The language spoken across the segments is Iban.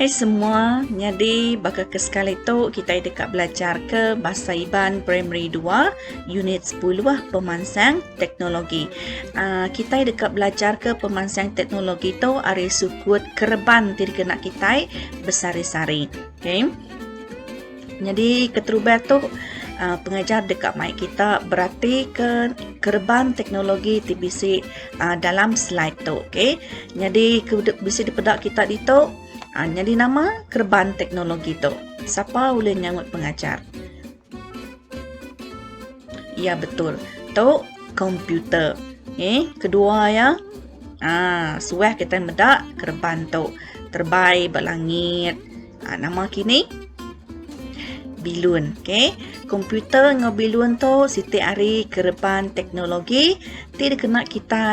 Hai semua, nyadi baka ke sekali tu kitai deka belajarka Bahasa Iban Primary Dua, Unit Sepuluh, Pemansang Teknologi. Aaa, kitai deka belajarka pemansang teknologi tu ari sukut kereban ti dikena kitai besari-sari. Okey. Nyadi keterubah tu uh, pengajar deka mai kita berarti ke kereban teknologi ti bisi uh, dalam slide tu okey. Nyadi ke bisi dipeda kita ditu uh, nyadi nama kereban teknologi tu. Siapa ulih nyangut pengajar? Ya betul. Tu komputer. Okey, kedua ya. Ah, suah kita meda kereban tu terbai belangit. langit. Ha, nama kini? Bilun. Okay. Komputer dengan bilun tu siti hari kerepan teknologi ti dikena kita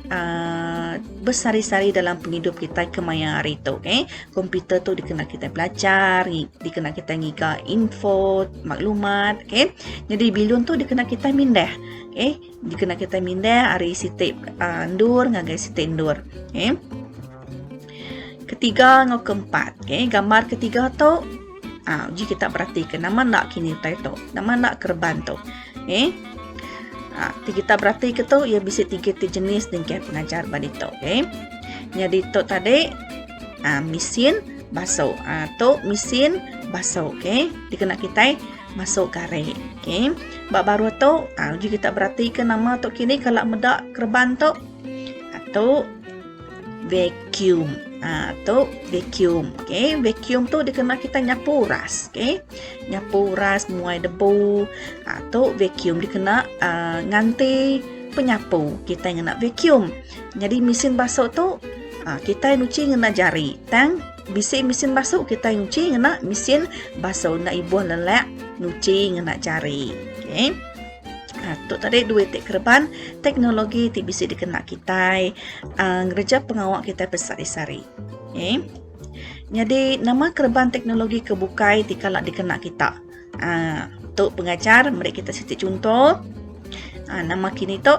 uh, bersari-sari dalam penghidup kita kemaya hari tu. Okay. Komputer tu dikena kita belajar, dikena kita ngiga info, maklumat. Okay. Jadi bilun tu dikena kita mindah. Okay. Dikena kitai mindah ari siti uh, endur ngagai siti endur. Okay. Ketiga ngau keempat. Okay. Gambar ketiga tu. Uh, uji kita perhatikan nama nak kini utai tu. Nama nak kerban tu. Okay. Uh, ah, kita berarti ke tu. Ia bisa tiga ti jenis dengan pengajar balik tu. Okay. Jadi tu tadi. Uh, mesin basuh. Uh, tu mesin basuh. Okay. Dikena kitai. masuk kari okey ba baruh tu ha uji kita beratika nama tu kini kala meda kereban tu atu vacuum ha tu vacuum okey vacuum tu dikena kita nyapu uras okey nyapu uras muai debu ha tu vacuum dikena uh, nganti penyapu kita ngena vacuum jadi mesin basuh tu ha, kita nuci ngena jari tang Bisi mesin basu kitai nyuci ngena mesin basu enda ibuh lelak nyuci ngena jari. Okey. Ha, tu tadi dua ti kereban teknologi ti bisi dikena kitai uh, ngereja pengawa kitai besari-sari. Okey. Jadi nama kereban teknologi ke bukai ti kala dikena kita? Uh, tu pengajar meri kita siti chunto. Uh, nama kini tu?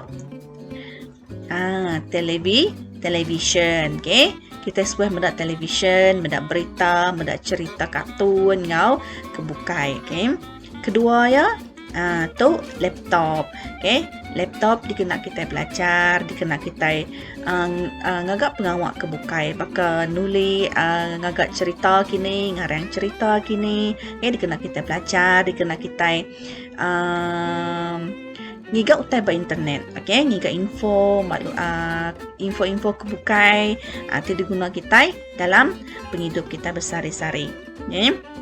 Ah, telebi, televisyen. Okey. Kita sebuah meda televisyen, meda berita, meda cerita kartun ngau ke bukai. Okey. Kedua ya, uh, tu laptop okey laptop dikena kita belajar dikena kita uh, uh, ngaga pengawa ke bukai baka nuli uh, ngaga cerita kini ngarang cerita kini okey dikena kita belajar dikena kita uh, ngiga utai ba internet okey ngiga info ah info-info ke bukai ah, ti diguna kitai dalam pengidup kita besehari-sehari okey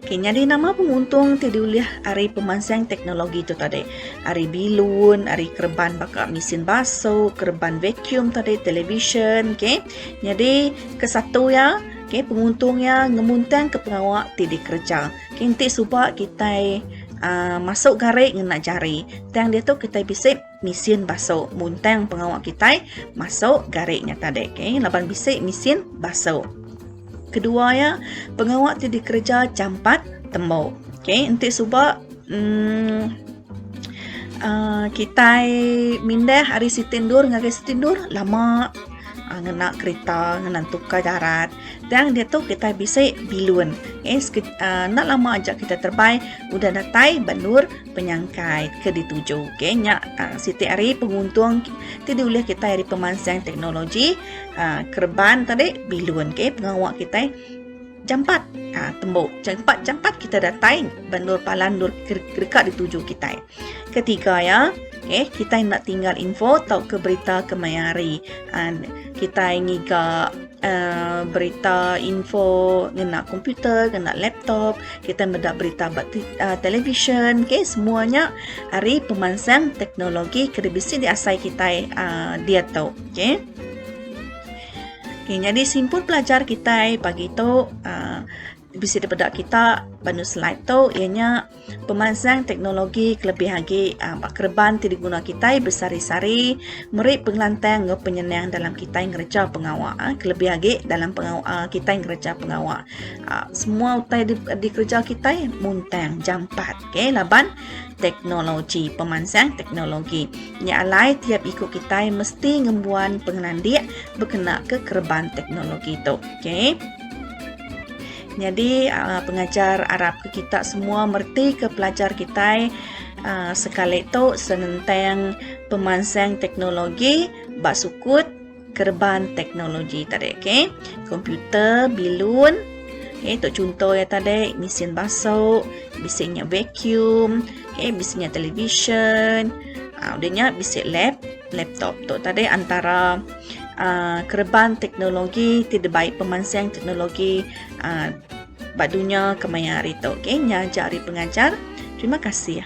Okay, nyadi nama penguntung ti diulih ari pemansang teknologi tu tadi? Ari bilun, ari kereban baka mesin basu, kereban vacuum tadi, televisyen, okey. Nyadi ke satu iya, okey penguntung iya ngemuntangka pengawa ti dikereja. Kinti suba kitai aaa masuk gari ngena jari. Tang diatu kitai bisi mesin basu muntang pengawa kitai masuk gari nya tadi. Okey, laban bisi mesin basu. Kedua iya, pengawa ti dikereja jampat tembu. Okey, enti suba emm aaa kitai mindah ari siti endur ngagai siti endur lama. ngena kereta ngena tukar darat tang diatu kitai bisi bilun eh enda lama aja kita terbang udah datai bendur penyangkai ke dituju okey nya siti hari penguntung ti diulih kitai pemansang teknologi kereban tadi bilun okey pengawa kitai Jampat ha, tembu. Jampat jampat kita datai bendur palan dur kereka dituju kita. Ketiga ya. Okay, kita nak tinggal info atau ke berita kemayari. Ha, kita ngiga uh, berita info ngena komputer, ngena laptop, kita meda berita ba uh, televisyen, okay, semuanya hari pemansang teknologi ke dibisi diasai kita uh, dia tu. Okay. Okay, jadi simpul pelajar kita pagi tu uh, bisi daripada kita banu slide tu ianya pemansang teknologi kelebih agi uh, bak kereban ti diguna kita besari-sari meri pengelantang enggau penyenang dalam kita ngereja pengawa uh, kelebih agi dalam pengawa uh, kita ngereja pengawa uh, semua utai di, dikereja kita muntang jampat Okay, laban teknologi pemansang teknologi nya alai tiap iku kitai mesti ngembuan pengelandik berkena ke kereban teknologi tu. Okay. Jadi uh, pengajar arap ke kita semua merti ke pelajar kita uh, sekali tu senentang pemansang teknologi ba sukut kereban teknologi tadi okey komputer bilun okey tu contoh ya tadi mesin basuh bisi nya vacuum okey bisi nya television uh, udah nya bisi lap laptop tu tadi antara uh, kereban teknologi ti dibai pemansang teknologi uh, ba dunya kemaya hari tu okey nya aja hari pengajar terima kasih